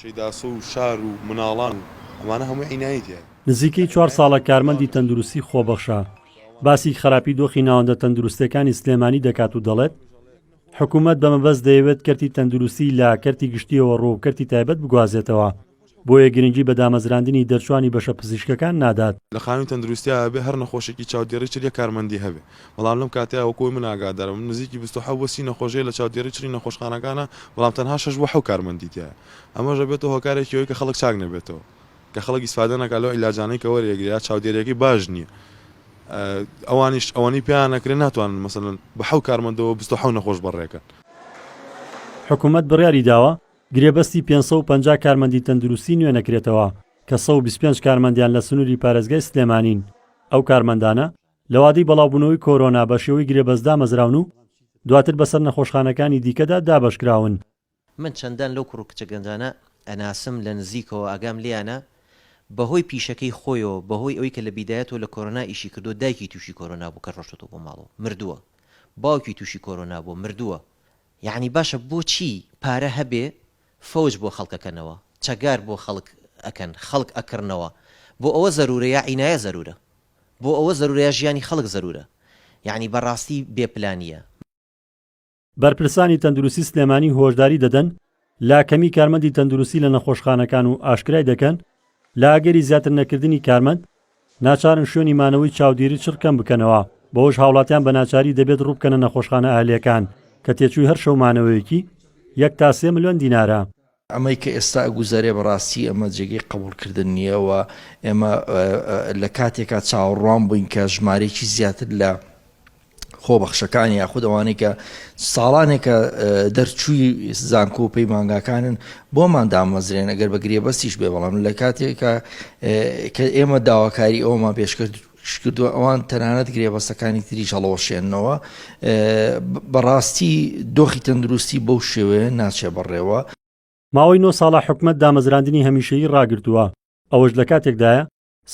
شەیداسۆ و شار و مناڵان و ئەمانە هەمووی عینایی تیایە. نزیکەی چوار ساڵە کارمەندی تەندروستی خۆبەخشە باسی خراپی دۆخی ناوەندە تەندروستێکانی سلێمانی دەکات و دەڵێت، حکومەت بە مەبەست دەیەوێت کەرتی تەندروستی لە کەرتی گشتییەوە ڕووەو کەرتی تایبەت بگوازێتەوە، بۆیە گرنگی بە دامەزراندنی دەرچوانی بەشە پزیشکەکان نادات. لە خانووی تەندروستیا ئەبێ هەر نەخۆشێکی چاودێڕی چل یەک کارمەندی هەبێ، بەڵام لەم کاتەیا وەکو من ئاگادارم نزیکی بیست و حەوت بۆ سی نەخۆش هەیە لە چاودێری چڕی نەخۆشخانەکانا بەڵام تەنها شەش بۆ حەوت کارمەندی تیایە ئەمەش ئەبێتە هۆکارێکی ئەوەی کە خەڵک چاک نەبێتەوە کە خەڵک ئیسفادە نەکا لەو عیلاجانەی کە وەریەگرێ یا چاودێریەکەی باش نییە ئەوانیش ئەوەنی پێیان نەکرێ ناتوانن مەسەلەن بە حەوت کارمەندەوە بیست و حەوت نەخۆش بەڕێکەن. حکومەت بڕیاری داوە گرێبەستی پێنج سەد و پەنجا کارمەندی تەندروستی نوێ نەکرێتەوە کە سەد و بیست و پێنج کارمەندیان لە سنوری پارێزگای سلێمانین ئەو کارمەندانە لەوادەی بەڵاوبوونەوەی کۆرۆنا بە شێوەی گرێبەست دامەزراون و دواتر بەسەر نەخۆشخانەکانی دیکەدا دابەشکراون. من چەندان لەو کوڕ و کچە گەنجانە ئەناسم لە نزیکەوە ئاگام لێیانە بەهۆی پیشەکەی خۆیەوە بەهۆی ئەوەی کە لە بیدایەتەوە لە کۆرۆنا ئیشی کردووە دایکی تووشی کۆرۆنا بوو کە ڕۆشتۆتەوە بۆ ماڵەوە مردووە باوکی تووشی کۆرۆنا بووە مردووە یەعنی باشە بۆچی پارە هەبێ فەوج بۆ خەڵک ئەکەنەوە چەگار بۆ خەڵک ئەکەن خەڵک ئەکڕنەوە بۆ ئەوە زەرورە یا عینایە زەرورە. بۆ ئەوە زەرورە یا ژیانی خەڵک زەرورە یانی بەڕاستی بێ پلانیە. بەرپرسانی تەندروستی سلێمانی هۆشداری دەدەن لە کەمی کارمەندی تەندروستی لە نەخۆشخانەکان و ئاشکرای دەکەن، لە ئەگەری زیاتر نەکردنی کارمەند، ناچارن شوێنی مانەوەی چاودێری چڕ کەم بکەنەوە، بەوەش هاوڵاتیان بە ناچاری دەبێت ڕووبکەنە نەخۆشخانە ئەهلییەکان کە تێچووی هەر شەو مانەوەیەکی یەک تا سێ ملیۆن دینارە. ئەمەی کە ئێستا ئەگوزەرێ بەڕاستی ئەمە جێگەی قەبووڵکردن نییە و ئێمە لە کاتێکا چاوەڕوان بووین کە ژمارەیەکی زیاتر لە خۆبەخشەکان یاخود ئەوانەی کە ساڵانێکە دەرچووی زانکۆ و پەیمانگاکانن بۆمان دامەزرێن ئەگەر بە گرێبەستیش بێ بەڵام لە کاتێکە کە ئێمە داواکاری ئەومان پێشکرد شکردوە ئەوان تەنانەت گرێبەستەکانی تریش هەڵەوەشێننەوە بەڕاستی دۆخی تەندروستی بەو شێوەیە ناچێ بەڕێوە. ماوەی نۆ ساڵە حکومەت دامەزراندنی هەمیشەیی ڕاگرتووە، ئەوەش لە کاتێکدایە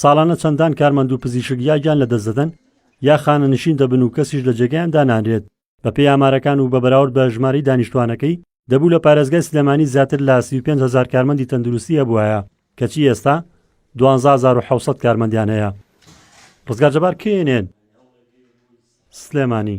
ساڵانە چەندان کارمەند و پزیشک یا گیان لەدەست دەدەن یا خانەنشین دەبن و کەسیش لە جێگەیان دانانرێت. بەپێی ئامارەکان و بە بەراورد بە ژمارەی دانیشتوانەکەی، دەبوو لە پارێزگای سلێمانی زیاتر لە سی و پێنج هەزار کارمەندی تەندروستی هەبوایە، کەچی ئێستا دوانزە هەزار و حەوت سەد کارمەندیان هەیە. ڕزگار جەبار، کەی ئەنێن سلێمانی؟